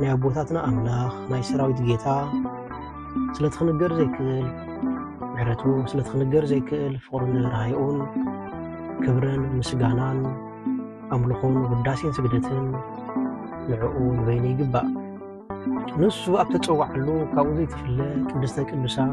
ናይ ኣቦታትና ኣምላኽ ናይ ሰራዊት ጌታ ስለቲ ክንገር ዘይክእል ምሕረቱ ስለቲ ክንገር ዘይክእል ፍቕሩን ርሃይኡን ክብርን ምስጋናን ኣምልኾን ውዳሴን ስግደትን ንዕኡ ንበይኑ ይግባእ ንሱ ኣብ ተፀዋዓሉ ካብኡ ዘይትፍለ ቅድስተ ቅዱሳን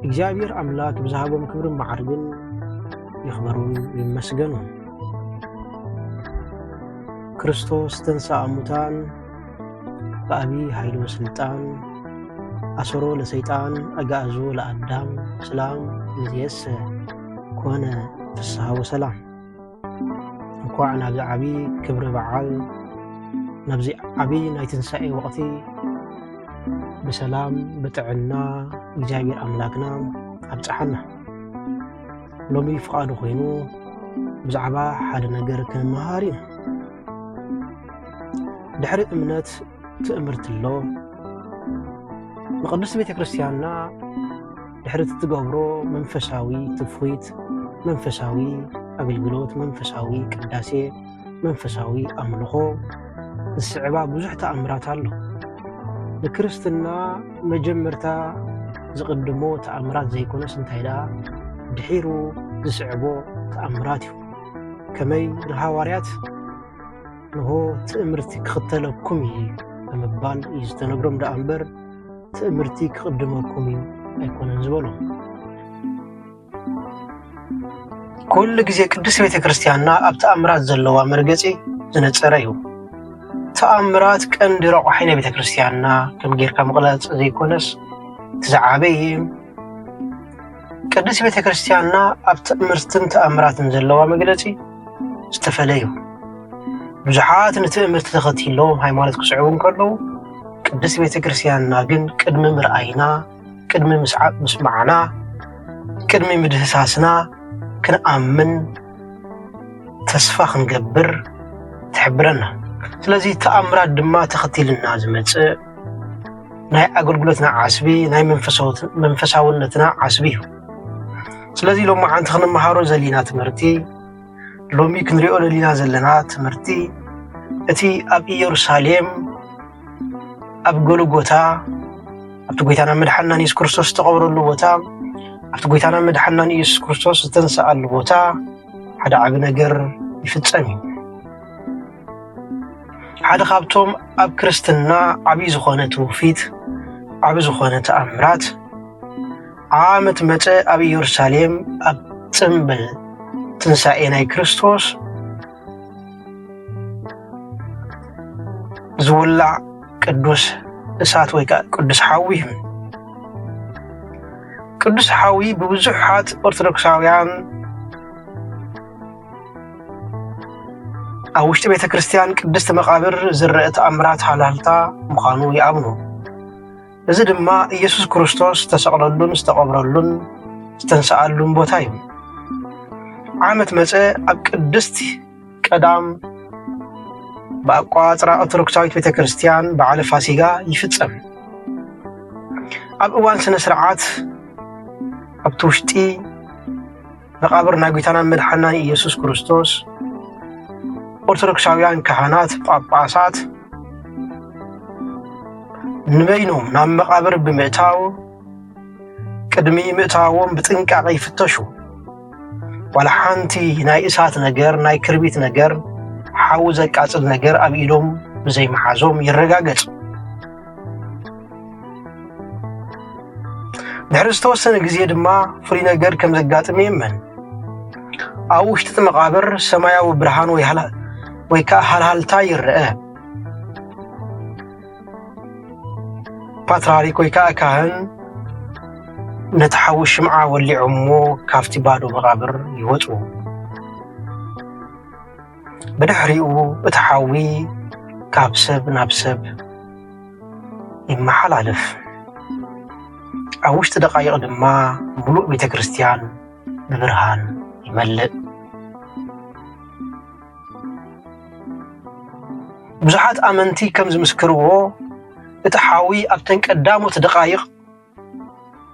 እግዚኣብሔር ኣምላክ ብዝሃቦም ክብርን መዓርግን ይኽበሩን ይመስገኑ። ክርስቶስ ተንሥአ እሙታን በአቢ ኃይሉ ስልጣን አሰሮ ለሰይጣን አጋእዞ ለአዳም ስላም እምይእዜሰ ኮነ ፍስሐ ወሰላም እንኳዕ ናብዚ ዓብዪ ክብሪ በዓል ናብዚ ዓብዪ ናይ ትንሳኤ ወቕቲ ብሰላም ብጥዕና እግዚኣብሔር ኣምላክና ኣብፀሓና ሎሚ ፍቓዱ ኮይኑ ብዛዕባ ሓደ ነገር ክንመሃር ኢና ድሕሪ እምነት ትእምርቲ ኣሎ ንቅድስቲ ቤተ ክርስቲያንና ድሕሪ እቲ ትገብሮ መንፈሳዊ ትፍኺት፣ መንፈሳዊ ኣገልግሎት፣ መንፈሳዊ ቅዳሴ፣ መንፈሳዊ ኣምልኾ ዝስዕባ ብዙሕ ተኣምራት ኣሎ። ንክርስትና መጀመርታ ዝቕድሞ ተኣምራት ዘይኮነስ እንታይ ደኣ ድሒሩ ዝስዕቦ ተኣምራት እዩ። ከመይ ንሃዋርያት ንሆ ትእምርቲ ክኽተለኩም እዩ ብምባል እዩ ዝተነግሮም ደኣ እምበር ትእምርቲ ክቕድመኩም እዩ ኣይኮነን ዝበሎም። ኩሉ ግዜ ቅድስት ቤተ ክርስቲያንና ኣብ ተኣምራት ዘለዋ መርገፂ ዝነፀረ እዩ። ተኣምራት ቀንዲ ረቋሒ ናይ ቤተ ክርስቲያንና ከም ጌርካ ምቕላፅ ዘይኮነስ እቲ ዝዓበየ ቅድስት ቤተ ክርስቲያንና ኣብ ትእምርትን ተኣምራትን ዘለዋ መግለጺ ዝተፈለዩ ብዙሓት ንትእምርቲ ተኸቲሎም ሃይማኖት ክስዕቡ እንከለዉ ቅድስት ቤተ ክርስቲያንና ግን ቅድሚ ምርኣይና ቅድሚ ምስዓብ ምስማዕና ቅድሚ ምድህሳስና ክንኣምን ተስፋ ክንገብር ትሕብረና ስለዚ ተኣምራት ድማ ተኸቲልና ዝመጽእ ናይ ኣገልግሎትና ዓስቢ ናይ መንፈሳውነትና ዓስቢ እዩ ስለዚ ሎሚ ሓንቲ ክንመሃሮ ዘሊና ትምህርቲ ሎሚ ክንሪኦ ዘሊና ዘለና ትምህርቲ እቲ ኣብ ኢየሩሳሌም ኣብ ጎልጎታ ኣብቲ ጎይታና መድሓናን የሱስ ክርስቶስ ዝተቐብረሉ ቦታ ኣብቲ ጎይታና መድሓናን የሱስ ክርስቶስ ዝተንስኣሉ ቦታ ሓደ ዓቢ ነገር ይፍጸም እዩ ሓደ ካብቶም ኣብ ክርስትና ዓብዪ ዝኾነ ትውፊት ዓብ ዝኾነ ተኣምራት ዓመት መፀ ኣብ ኢየሩሳሌም ኣብ ፅምብል ትንሣኤ ናይ ክርስቶስ ዝውላዕ ቅዱስ እሳት ወይ ከዓ ቅዱስ ሓዊ እዩ። ቅዱስ ሓዊ ብብዙሓት ኦርቶዶክሳውያን ኣብ ውሽጢ ቤተ ክርስቲያን ቅድስቲ መቓብር ዝረአ ተኣምራት ሃልሃልታ ምዃኑ ይኣምኑ። እዚ ድማ ኢየሱስ ክርስቶስ ዝተሰቕለሉን ዝተቐብረሉን ዝተንስኣሉን ቦታ እዩ። ዓመት መፀ ኣብ ቅድስቲ ቀዳም ብኣቋፅራ ኦርቶዶክሳዊት ቤተ ክርስቲያን በዓለ ፋሲጋ ይፍፀም። ኣብ እዋን ስነ ስርዓት ኣብቲ ውሽጢ መቓብር ናይ ጒይታናን መድሓናን ኢየሱስ ክርስቶስ ኦርቶዶክሳውያን ካህናት ጳጳሳት ንበይኖም ናብ መቓብር ብምእታው ቅድሚ ምእታዎም ብጥንቃቐ ይፍተሹ ዋላ ሓንቲ ናይ እሳት ነገር ናይ ክርቢት ነገር ሓዊ ዘቃፅል ነገር ኣብ ኢዶም ብዘይመሓዞም ይረጋገፅ ድሕሪ ዝተወሰነ ግዜ ድማ ፍሉይ ነገር ከም ዘጋጥም የመን ኣብ ውሽጢ እቲ መቓብር ሰማያዊ ብርሃን ወይ ከዓ ሃልሃልታ ይረአ ፓትራሪክ ወይ ከዓ ካህን ነቲ ሓዊ ሽምዓ ወሊዖሞ ካብቲ ባዶ መቓብር ይወፁ ብድሕሪኡ እቲ ሓዊ ካብ ሰብ ናብ ሰብ ይመሓላለፍ። ኣብ ውሽጢ ደቃይቕ ድማ ሙሉእ ቤተ ክርስቲያን ብብርሃን ይመልእ። ብዙሓት ኣመንቲ ከም ዝምስክርዎ እቲ ሓዊ ኣብተን ቀዳሞት ደቃይቕ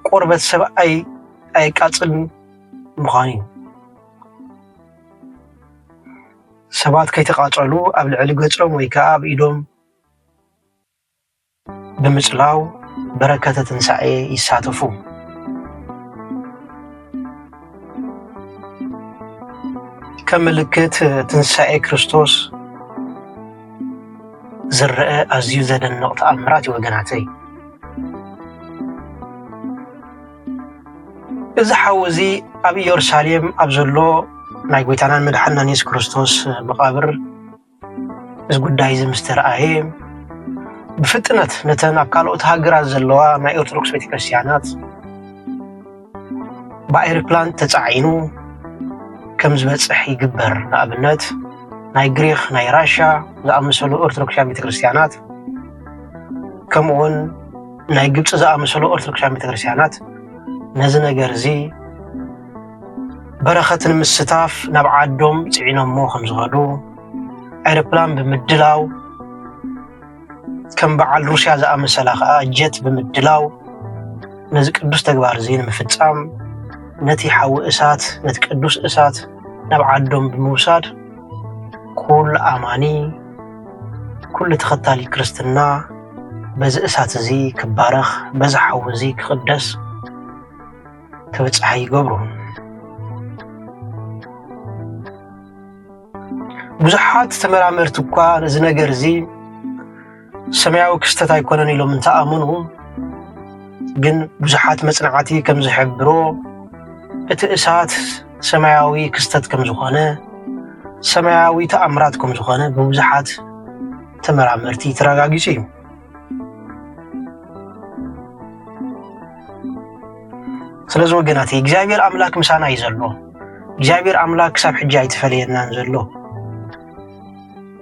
ቆርበት ሰብ ኣይ ኣየቃጽልን ምዃኑ እዩ። ሰባት ከይተቓፀሉ ኣብ ልዕሊ ገፆም ወይ ከዓ ኣብ ኢዶም ብምፅላው በረከተ ትንሳኤ ይሳተፉ። ከም ምልክት ትንሳኤ ክርስቶስ ዝረአ ኣዝዩ ዘደንቕ ተኣምራት እዩ ወገናተይ። እዚ ሓው እዚ ኣብ ኢየሩሳሌም ኣብ ዘሎ ናይ ጎይታናን መድሓናን የሱስ ክርስቶስ መቓብር እዚ ጉዳይ እዚ ምስ ተረኣየ ብፍጥነት ነተን ኣብ ካልኦት ሃገራት ዘለዋ ናይ ኦርቶዶክስ ቤተክርስትያናት ብኣይሮፕላን ተፃዒኑ ከም ዝበፅሕ ይግበር ንኣብነት ናይ ግሪክ ናይ ራሻ ዝኣመሰሉ ኦርቶዶክስያን ቤተክርስትያናት ከምኡውን ናይ ግብፂ ዝኣመሰሉ ኦርቶዶክሳዊ ቤተክርስትያናት ነዚ ነገር እዚ በረኸት ንምስታፍ ናብ ዓዶም ፅዒኖሞ ከም ዝኸዱ ኣይሮፕላን ብምድላው ከም በዓል ሩስያ ዝኣመሰላ ከዓ ጀት ብምድላው ነዚ ቅዱስ ተግባር እዚ ንምፍፃም ነቲ ሓዊ እሳት ነቲ ቅዱስ እሳት ናብ ዓዶም ብምውሳድ ኩሉ ኣማኒ ኩሉ ተኸታሊ ክርስትና በዚ እሳት እዚ ክባረኽ በዚ ሓዊ እዚ ክቕደስ ክብፅሓ ይገብሩ ብዙሓት ተመራመርቲ እኳ ነዚ ነገር እዚ ሰማያዊ ክስተት ኣይኮነን ኢሎም እንተኣምኑ ግን ብዙሓት መፅናዕቲ ከም ዝሕብሮ እቲ እሳት ሰማያዊ ክስተት ከም ዝኾነ ሰማያዊ ተኣምራት ከም ዝኾነ ብብዙሓት ተመራመርቲ ተረጋጊጹ እዩ ስለዚ ወገናት እግዚኣብሔር ኣምላክ ምሳና እዩ ዘሎ እግዚኣብሔር ኣምላክ ክሳብ ሕጂ ኣይተፈለየናን ዘሎ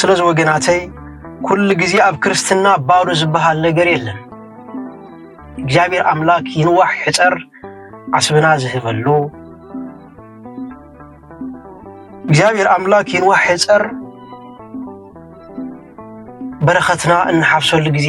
ስለዚ ወገናተይ ኩሉ ግዜ ኣብ ክርስትና ባዶ ዝበሃል ነገር የለን። እግዚኣብሔር ኣምላክ ይንዋሕ ሕፀር ዓስብና ዝህበሉ እግዚኣብሔር ኣምላክ ይንዋሕ ሕፀር በረከትና እንሓፍሰሉ ግዜ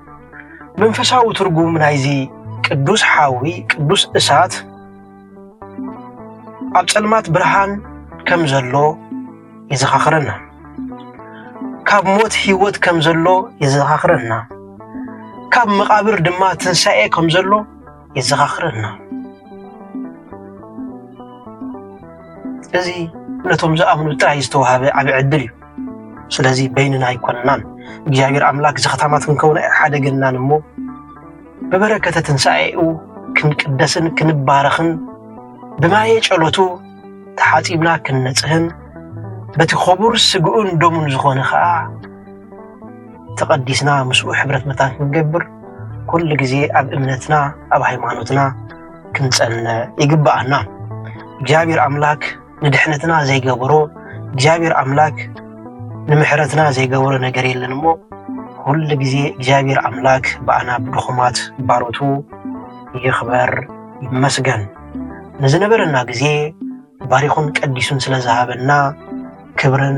መንፈሳዊ ትርጉም ናይዚ ቅዱስ ሓዊ ቅዱስ እሳት ኣብ ጸልማት ብርሃን ከም ዘሎ የዘኻኽረና። ካብ ሞት ህይወት ከም ዘሎ የዘኻኽረና። ካብ መቓብር ድማ ትንሣኤ ከም ዘሎ የዘኻኽረና። እዚ ነቶም ዝኣምኑ ጥራይ ዝተዋህበ ዓቢ ዕድል እዩ። ስለዚ በይንና ኣይኮንናን። እግዚኣብሔር ኣምላክ ዘኽታማት ክንከውን ኣይሓደገናን እሞ ብበረከተ ትንሣኤኡ ክንቅደስን ክንባረኽን ብማየ ጨሎቱ ተሓጺብና ክንነጽህን በቲ ኸቡር ስግኡን ደሙን ዝኾነ ኸኣ ተቐዲስና ምስኡ ሕብረት መታን ክንገብር ኩሉ ግዜ ኣብ እምነትና ኣብ ሃይማኖትና ክንጸነ ይግብኣና። እግዚኣብሔር ኣምላክ ንድሕነትና ዘይገበሮ እግዚኣብሔር ኣምላክ ንምሕረትና ዘይገበሮ ነገር የለን እሞ ኩሉ ግዜ እግዚኣብሔር ኣምላክ ብኣና ብድኹማት ባሮቱ ይኽበር ይመስገን። ንዝነበረና ግዜ ባሪኹን ቀዲሱን ስለዝሃበና ክብርን